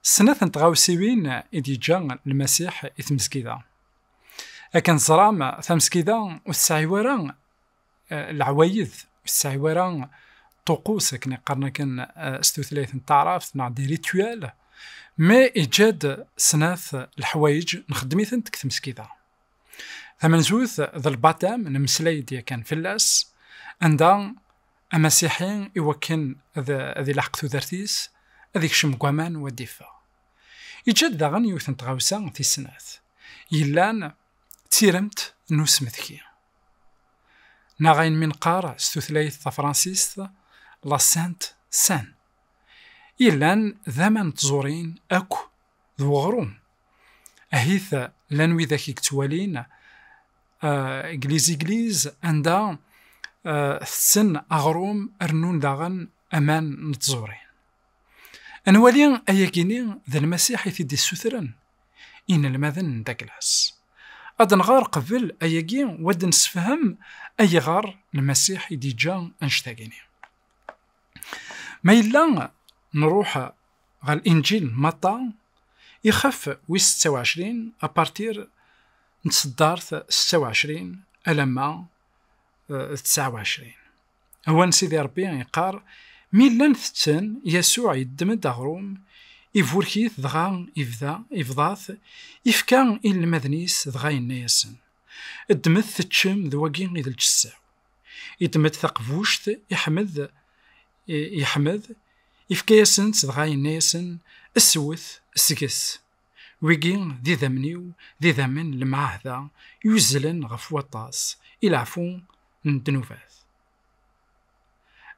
snat n tɣawsiwin i d-yeǧǧa lmasiḥ i tmesgida akken teẓram tamesgida ur tesɛi wara eh, leɛwayed ur tesɛi wara ṭuqus akken iqqaren akken eh, s tutlayt n taɛrabt neɣ di rituel mais iǧǧa-d snat leḥwayeǧ nxeddem-itent deg tmesgida Tamenzut d lbatam nemmeslay-d yakan fell-as anda amasiḥi i wakken ad ilaḥeq tudert-is ad ikcem deg waman u ad d-iffeɣ. Iǧǧa-d daɣen yiwet n tɣawsa tis snat yellan d tiremt n usmetki neɣ ayen mi neqqar s tutlayt tafransist la sainte seine yellan d aman n tẓurin akk d weɣrum Ahit, llan widak i yettwalin Egliz-Egliz anda tetten aɣrum rnun daɣen aman n tẓuri. Ad nwali ayagi-nni d Lmasiḥ i t-id-issutren inelmaden n Daglas. Ad nɣer qbel ayagi u ad d-nessefhem ayɣer Lmasiḥ i d-yeǧǧa annect-agi-nni. Ma yella nruḥ ɣer Linǧil n Matta, ixef wis setta u ɛecrin, apartir n tseddart setta u ɛecrin alamma d tesɛa u ɛecrin. Awan Sidi Ṛebbi iqqar, Mi llan tetten, Yasuɛ yeddem-d aɣrum, iburek-it dɣa ibda, ibḍa-t, ifka i inelmaden-is dɣa yenna-yasen, Ddmet teččem, d wagi i d lǧessa-w. Yeddem-d taqbuct i Ḥmed, i Ḥmed, yefka-yasen-tt dɣa yenna-yasen, Swet, sget. Wigi d idammen-iw, d idammen n lemɛahda yuzzlen ɣef waṭas, i leɛfu n ddnubat.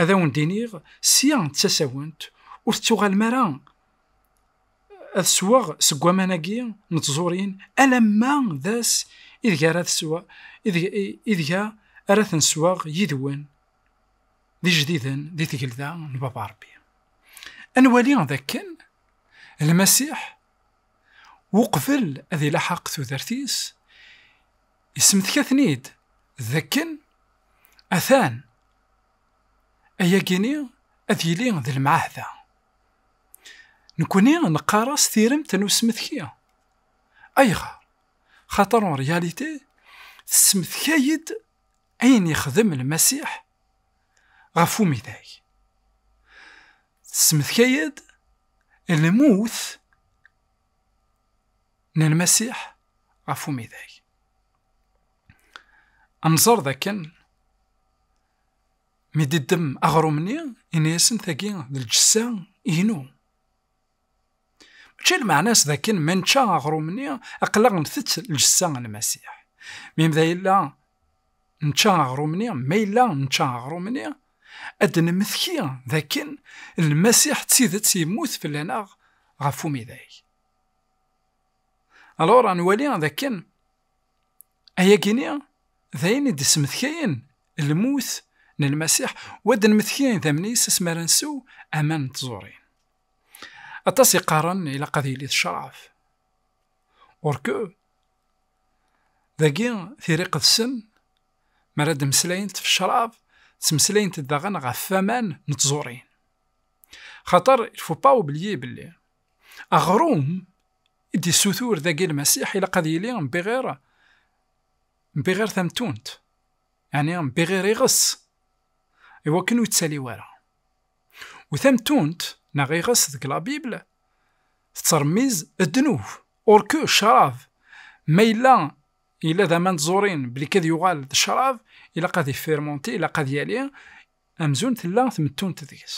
Ad awen-d-iniɣ, sya d tasawent, ur tettuɣalem ara ad sweɣ seg waman-agi n tẓurin alamma d ass ideg ara tesweɣ ideg ara ten-sweɣ yid-wen d ijdiden di tgelda n Baba Rebbi. Ad nwali d akken Lmasiḥ uqbel ad ilaḥaq tudert-is, isemteka-ten-id d akken atan ayagi-ni ad yili d lmeɛahda Nekkni neqqar-as tiremt n usmetki. Ayɣer? Xaṭer en réalité tesmetkay-d ayen yexdem Lmasiḥ ɣef umidag. Tesmetkay-d lmut n Lmasiḥ ɣef umidag. Ad nẓer dakken Mi d-iddem aɣrum-nni, yenna-asen tagi d lǧessa inu. Mačči lmeɛna-s d akken ma nečča aɣrum-nni, aql-aɣ ntett lǧessa n Lmasiḥ. Mi ma yella nečča aɣrum-nni, ma yella nečča aɣrum-nni, ad d-nemmekti d akken Lmasiḥ d tidet yemmut fell-aneɣ ɣef umidag. Alors ad nwali d akken Ayagi-nni d ayen i d-ismetkayen lmut n Lmasiḥ, u ad d-nmetki idammen-is asmi ara nsew aman n tẓuri. Aṭas i qqaren ilaq ad yili d ccṛeɛ. Or que, dagi tira iqedsen mi ara d-mmeslayent ɣef ccṛeɛ, ttmeslayent-d daɣen ɣef waman n tẓuri. Xaṭer, il faut pas oublier belli, Aɣrum i d-issutur dagi Lmasiḥ ilaq ad yili mbiɣir mbiɣir tamtunt, ɛni mbiɣir iɣes, iwakken ur yettali wara. U tamtunt neɣ iɣes deg la Bible tettṛemmiz ddnub, or que ccṛab ma yella yella d aman tẓurin belli kad yuɣal d ccṛab ilaq ad yefirmonti, ilaq ad yali amzun tella tmettunt deg-s.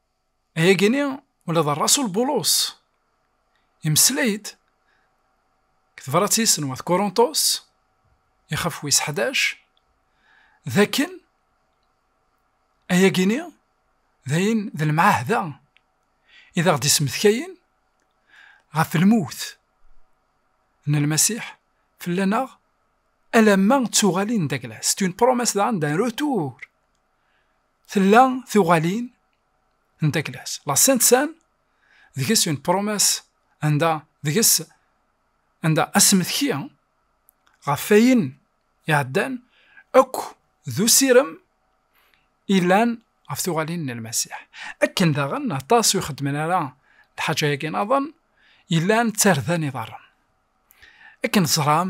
Ayagi-nni ula d rrasul Bulus yemmeslay-d deg tebṛat-is n wat Kurunṭus, ixef wis ḥdac, d akken ayagi-nni d ayen d lemɛahda i d aɣ-d-ismetkayen ɣef lmut n Lmasiḥ fell-aneɣ alamma d tuɣalin n Dagla, c'est une promesse d'un retour. Tella tuɣalin n taklas, la Sainte Seine, deg-s une promesse, anda deg-s anda asmetki ɣef ayen iɛeddan akk d usirem ilan ɣef tuɣalin n Lmasiḥ. Akken daɣen aṭas ur xeddmen ara lḥaǧa-agi naḍen, ilan d tarda n iḍarren. Akken teẓram,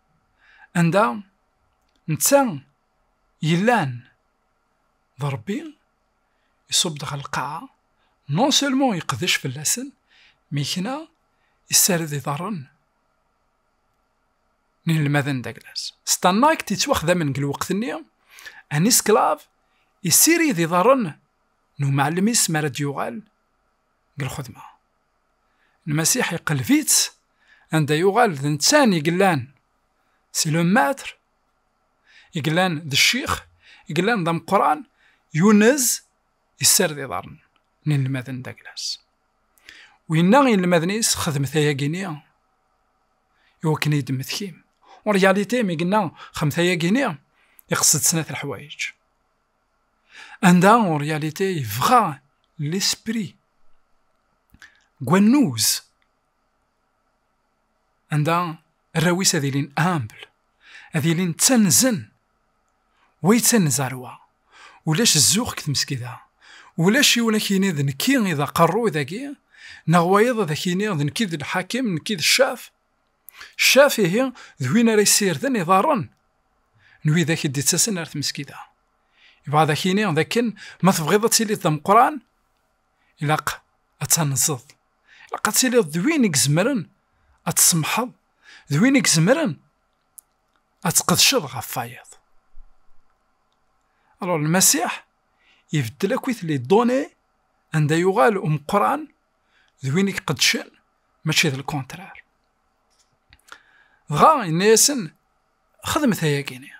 anda netta yellan d Ṛebbi, iṣubb-d ɣer lqaɛa, non seulement yeqdec fell-asen, mi yekna yessared iḍarren n yinelmaden n Daglas. Stannact yettwaxdamen deg lweqt-nni, un esclave, yessirid iḍarren n umɛellem-is mi ara d-yuɣal deg lxedma. Lmasiḥ iqelleb-itt anda yuɣal d nettan i yellan si le maître, i yellan d ccix, i yellan d ameqqran, yunez yessared iḍarren n inelmaden d'Aglas. U yenna i inelmaden-is xedmet ayagi-nni iwakken i d-tmetkim. En réalité, mi yenna xedmet ayagi-nni, iqsed snat leḥwayeǧ. Anda, en réalité, yebɣa l'esprit gwannuz, anda arraw-is ad ilin humble, ad ilin ttanzen, wa yettanez ar wa, ulac zzux deg tmesgida, ulac yiwen ad k-yini d nekki i d aqerruy dagi, neɣ wayeḍ ad ak-yini d nekki i d lḥakim, nekki i d ccaf, Ccaf ihi d win ara yessirden iḍarren n widak i d-ittasen ar tmeskida. Yebɣa ad ak-yini d akken ma tebɣiḍ ad tiliḍ d ameqqran, ilaq ad tanzeḍ, ilaq ad tiliḍ d win i izemren ad tsemḥeḍ, d win i izemren ad tqedceḍ ɣef wayeḍ. Alors, Lmasiḥ ibeddel akkit les données anda yuɣal umeqqran d win i iqeddcen mačči d lkontrar dɣa yenna-yasen xedmet ayagi-ni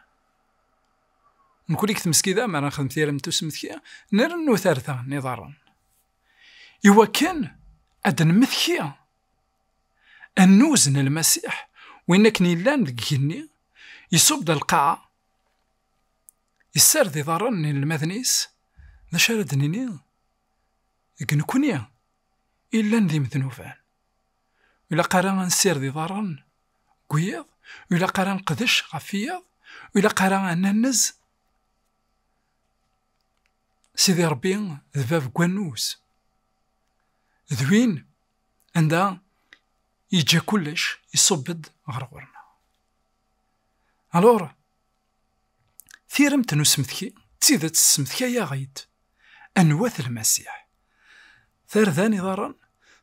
nekuli deg tmesgida mi ara nexdem tirem tusmetki nrennu tarta n iḍarren iwakken ad nmetki annuz n lmasiḥ win akken yellan deg igenni yesub-d lqaɛa yessared iḍarren n inelmaden-is d acu ara d-nini Deg nekkni i llan d imednuban, ur ilaq ara ad nsired iḍarren deg wiyaḍ, ur ilaq ara ad neqdec ɣef wiyaḍ, ur ilaq ara ad nannez Sidi Ṛebbi d bab n wannuz, d win anda yeǧǧa kullec, iṣubb-d ɣer ɣur-neɣ. Alur. Tiremt n usmetki d tidet tessemtkay-aɣ-id anwa-t Lmasiḥ. Tarda n iḍarren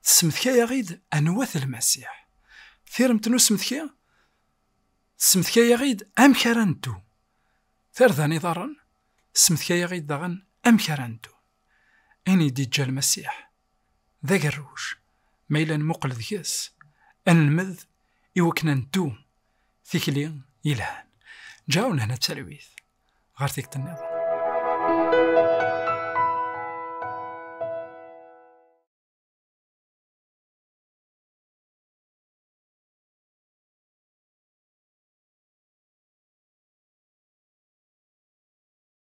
tessemtkay-aɣ-id anwa-t Lmasiḥ. Tiremt n usmetki tessemtkay-aɣ-id amek ara neddu. Tarda n iḍarren tessemtkay-aɣ-id daɣen amek ara neddu. Ayen i d-iǧǧa Lmasiḥ d agerruj ma yella nmuqel deg-s, ad nelmed i wakken ad neddu tikli yelhan. Ǧaw lehna talwit ɣer tikkelt nniḍen.